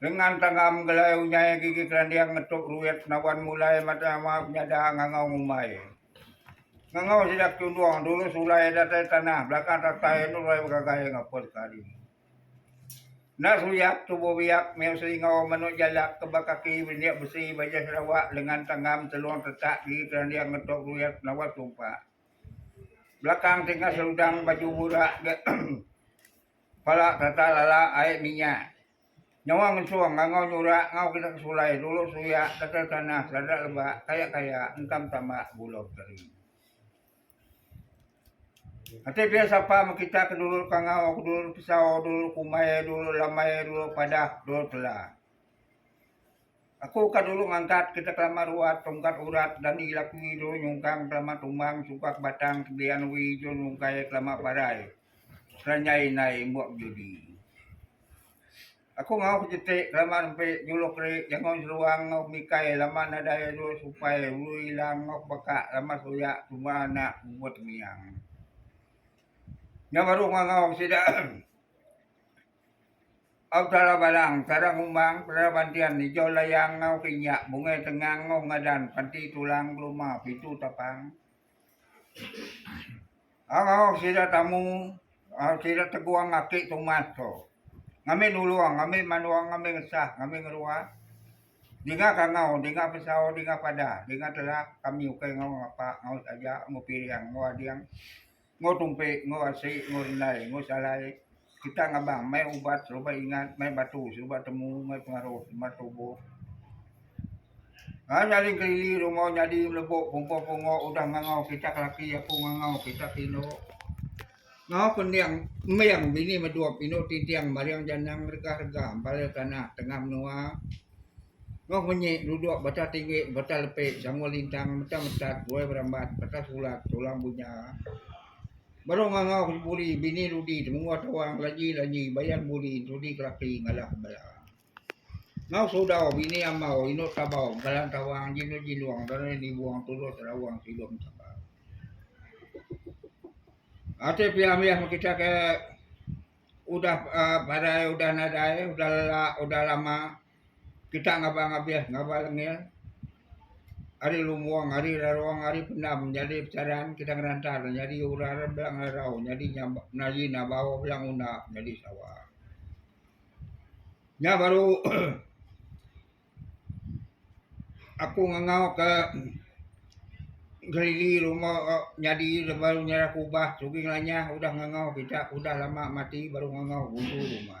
Lengan tanggam gelai unyai gigi kelanding ngetuk ruit naban mulai matai ama penyada ngangau ngumbai. Ngangau sida ke tundung dulu sulai datai tanah belakang tatai nurai begagai ngapus ke hari. Enda suyak tubuh biak meh usi enggau menu jalak ke ba kaki benindik besi bajai Sarawak lengan tanggam telung tetak gigi kelanding ngetuk ruit naban sumpak. Belakang tinggal seludang baju burak ga pala tatai lala ai minyak. Nyawa ngesung ngangau nyurak ngau kena ke sulai dulu suyak tata tanah sada lebak kaya kaya entam tambak gula beteri. Ati pia sapa mekita ke dulu kangau ke dulu pesau dulu kumbai dulu lambai dulu padah dulu tela. Aku ka dulu ngangkat ke kelama ruat tungkat urat dani laki dulu nyungkang kelama tumbang sukak batang kebian wi dulu nungkai kelama parai seranjai indai imbok bejudi. Aku ngau kejeti kelama nempi juluk ri jangon seruang ngau mikai laman nadai dulu supai ulu ilang ngau baka lama suyak tuma anak mubut miang. Nya baru ngau sida. Au Tala Balang, Tala Ngumbang, Tala Bantian, Ijau Layang enggau Kinyak, Bungai Tengang enggau Ngadan, Panti Tulang, Beluma, Pintu Tapang. Au Awak Sida Tamu, Awak Sida Teguang Aki Tumas tu. Ngambi nulung, ngambi manung, ngambi ngesah, ngambi ngerua. Dinga kangau, dinga pesau, dinga pada, dinga telak kami ukai enggau ngapa, enggau saja, enggau piring, enggau ading. Enggau tumpi, enggau asi, enggau indai, enggau salai, kita ngabang mai ubat serubat ingat, mai batu serubat temu, mai pengaruh serubat tubuh. Ngagai nyaling kelili rungau nyadi melebok pumpoh pungo udah ngangau kita ke laki aku ngangau kita ke inu. Ngau pening ming bini medup inu tinting maring janang rega-rega empal tanah tengah menua. Noh munyi, duduk, bata tinggi, bata lepi, sangul lintang, meta metat, buai berambat, bata sulat, tulang bunya, baru ngangau ke buli, bini ludi, temungguh tawang, laji laji, bayan buli, entudi kelapi, ngalah bala. Ngau sudau, bini amau, indu tabau, bekalan tawang, jindu jindung, darai nibung, tulus rawang, silum tabau. Ati pia mih mun kita ke udah parai, udah nadai, udah lelak, udah lama. Kita ngaban ngabih ngaban lengil ari lumbung ari larong ari pendam nyadi pesaran kita ngeranta deh nyadi urar bela ngelarau nyadi nyadi nabau bela nguna nyadi sawa. Nya baru aku ngengau ke gerili luma nyadi lema nyerah kubah sugi ngelanyah udah ngengau kita udah lama mati baru ngengau buntu luma.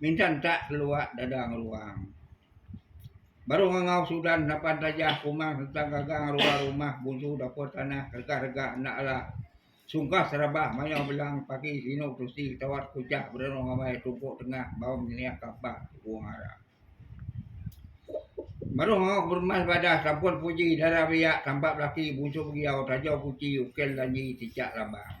minta enta kelua dadang ruang. Baru ngangau sudan napan tajah kumang sereta gaga ngeruai rumah buntu dapur tanah rega rega enda ala sungkah serabah mayau belang pagi sinu tusi tawat kuchah berenung amai tuku tengah bau nyeliah kapa tuku ngara. Baru ngangau kepermas badah sampun puji dara biak tampa belaki buntu begiau tajau kuchi ukir lanji tichak labang.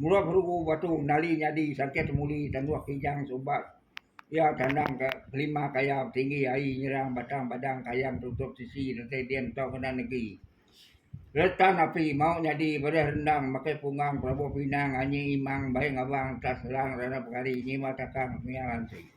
Mula berugu batu nali nyadi sangkih temuli tanduh kijang subat iya kandang ka kelima kaya tinggi aie nyerang batang padang kayang tutup sisi retai din tau kena negi. Retan api mau nyadi bereh rendang makai pungang pelabuh pinang anyi imang baie ngabang entah serang rana pekari nyima takang mia lansi.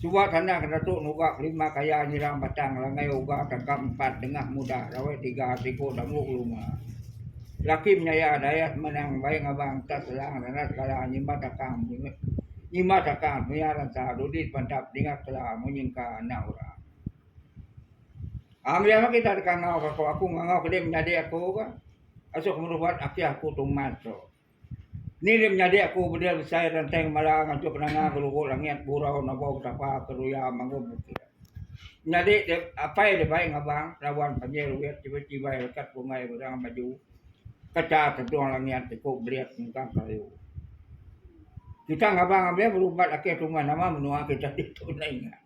Suba tanah ke datu nugak lima kaya nyirang batang langai uga tangkap empat dengah muda rawai tiga siku damu keluma. Laki menyaya dayah semenang bai ngabang entas selang nanas kala nyimat akang nyimat akang semaya ransa dudi sepantap dingat kela munyi engka anak orang. Am iya meh kita deka ngau ka aku aku ngangau kedi menyadi aku ka asu aku merubat aki aku tumat tu. Ni deh menyadi aku bedil besai renteng mala ngatur kenanga gelugu langit gurau nebau betapa ke luya mangum bukit. Menyadi deh apai deh bai ngabang lawan panjai luit chibai chibai rekat bungai berang baju kecha tedung langit iku belit mengkang kayu. Kita ngabang abe berumbat ake tumah nama menua kita ditu nai nya.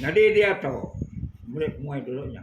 Nyadi diatu meli penguai dulu nya.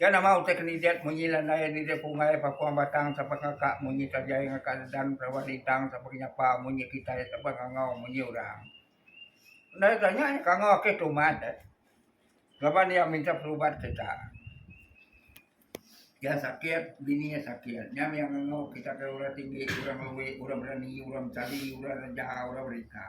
Iya nama utai ke nidet munyi landai nidet punggai papung batang sapa ngakak munyi tajai ngakak dedan perawat lintang sapa ke nyapa munyi kitai sapa ngangau munyi orang. Endai tanya nya kangau ake tu umat deh laban iya minta perubat kita. Iya sakit bini iya sakit nya mih iya ngangau kita ke orang tinggi orang lewe orang berani orang besali orang reja orang berita.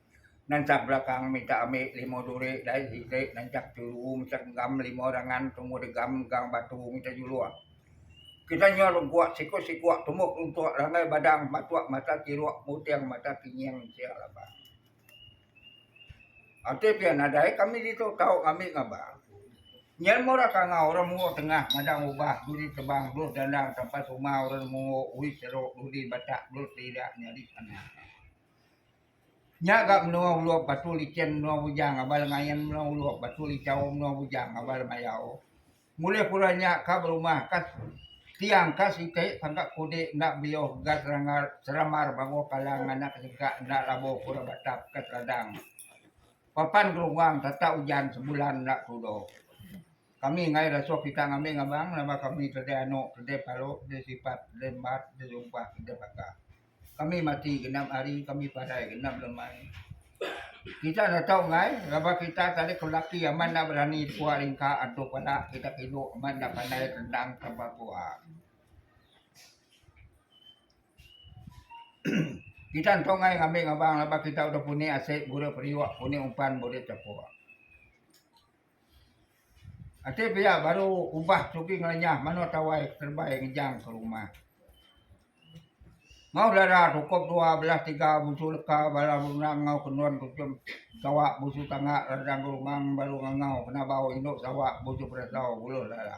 Nansang belakang minta ambi lima duri dai siti nansang tulu mechek enggam lima rangan tumu degam gang batu mita juluk. Kita nyau lengkuk sikuk-sikuk tumuk luntuk langgai badang matuk mata kiruk muting mata kinying sia laba. Ati pia nadai kami ditu tau ngambi ngaba. Nyen mora kangau orang Mungo Tengah madang ubah duri tebang dulus dandang tampat uma orang Mungo Uis Serok Duli Batak dulus lidak nyadi tanah. Nya ga menua Ulup Batu Lichin menua Bujang ngabal ngain menua Ulup Batu Lichau menua Bujang ngabal mayau. Ngulih pura nya ka berumah ka tiang ka siti tangka kudi enda beliuh ga serangar seramar banguh kalang nganak sengkak enda labuh pura batap ka seladang. Papan gerungang tata ujan sebulan enda tudo. Kami ngai rasuh kita ngambing abang nama kami tedai anu tedai palu tedai sipat tedai embat tedai sumpah tedai baka. Kami mati genap hari, kami padai genap lemai. Kita enda tau enggai laban kita tadi ke laki amat enda berani dikua ringka antu pala kita kilu amat enda pandai rendang tapa kua. kita enda tau enggai ngambi ngabang laban kita udah puni asai gura periuk puni umpan burit tapa. Ati pia baru ubah sugi ngelenyah mano tawai kerebai ngejang ke rumah. Mau dara sukup dua belah tiga busu leka bala benang enggau kenun kuchum sawa busu tanga radang ke rumah baru ngangau kena bau indu sawa busu perasau buluh dara.